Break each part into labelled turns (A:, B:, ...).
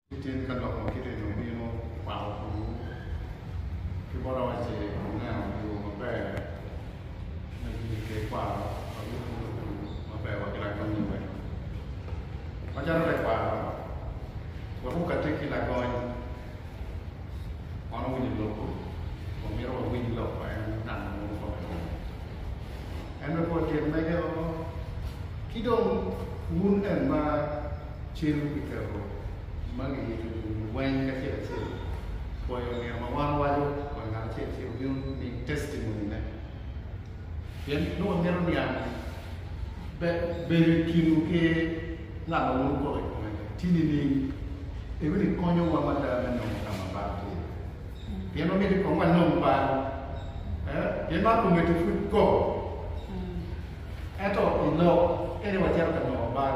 A: Gityen ka lok ma kite ni obino kwako kulu ki bot awace oneno yo maber me bino i ker kwaro ma bino bino kulu maber wa ki lagony i welo. Macalo tekwaro, wek okati ki lagony, wan owinyo lobo wa mito wa winy lok ma en ngat ma mwodo kome ni. En me pol tyen mege o ki dong wun en ma. cen kiketo ma giyito nyingi weng acel acel. Pwoyo nino ma wan owaco wa ngat acel acel obino ni testimony ne. Pien nongo wamito niang ni bedo i kinwu ki ngat ma wun wukoko i kome tye nining? Ebino ni konyowa mada me nongo ka ma bal tye. Pien wamito kong wanong bal. Pien man omedo pud koko. Ento i lok ene wacito ka nongo bal.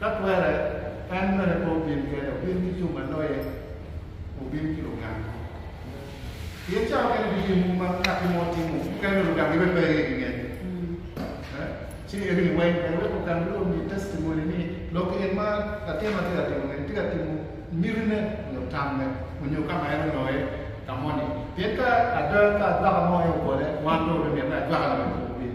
A: Ka twere, en bene pe obin kene, obin ki jo ma loye, obin ki lugang mo. Pien cawa kene bibino mogo ma katti mo tye mogo, mukene dong lugang gibe pe aye gingec. Ci en ni weng ber wek lugang bene omi testimony ni lok en ma latin ma tye ka timo ni tye ka timo mitine nyo tamme onyo ka ma en oloye ka moni. Pien ka ada ka ajwaka mo aye obole, wan dong obimite ajwaka ni bene pe obin.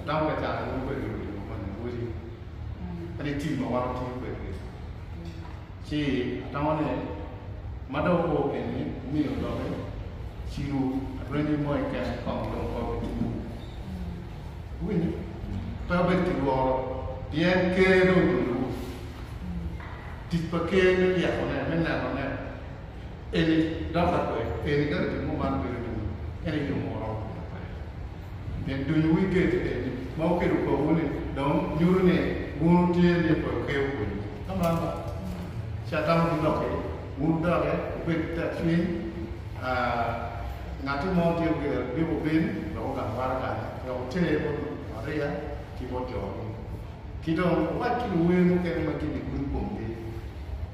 A: Atamo ka cato mogo kwede onongo timo koni ni woti kadi tim ma wan watiyo kwedgi. Ci atamo ni ma dong wupor keni wumiyo doki ciru adwengi moi kene kong dong pe wubitimu. Wuwinyo? Pe wubed ki lworo pien Ker dong otunowu. Tic pa Ker me ryekone, me nenone. Eni dok akwe, eni ka ritmi mo man bedo ni en aye yomo oromo pire pe. Pien dunyo wi geto eni ma wukedo kowu ni dong nyuto ni wun wutye ni pe wukeyo pwonyo. Ka ma ba, ci atamo ki lok ki wun wudokke wubed ki tek cwiny. Ngatti mo tye wiye lik obin dok ogang waraganne wek oter bot Maria ki bot jo-gi. Ki dong wuwac ki luwer mukene ma gin i gurup komgi.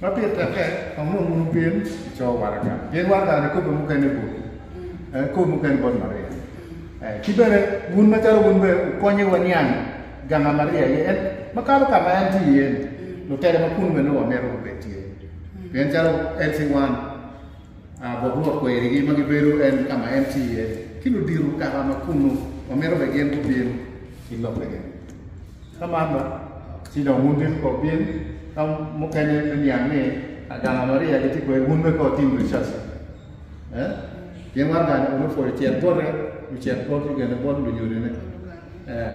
A: Ma pire tekke, kong nongo wunu pien ico waraga, pien waraga ni kobbe mukene botwu, eh, kobbe mukene bot Maria. Eh, ki bene, wun macalo wun bene wukonye waniang ganga Maria aye en, makato ka ma en tye iye-ni, lutela ma kunnu bene nongo wamito gubed tye, pien calo LC1. Bot Rwot kwerigi ma gibedo en ka ma en tye iye, ki ludito kaka ma kunnu, ma mito bene gin gubin i lobbe gin. Ka man dok, ci dong wun bit ko wubin ka mukene me niang ni aganga Maria gitye kwede, wun wek ka wutim dwe caci. Eh? Pien waraga-ni onongo pwod ocit bote, ocit bot lugene, bot lunyodine. Eh.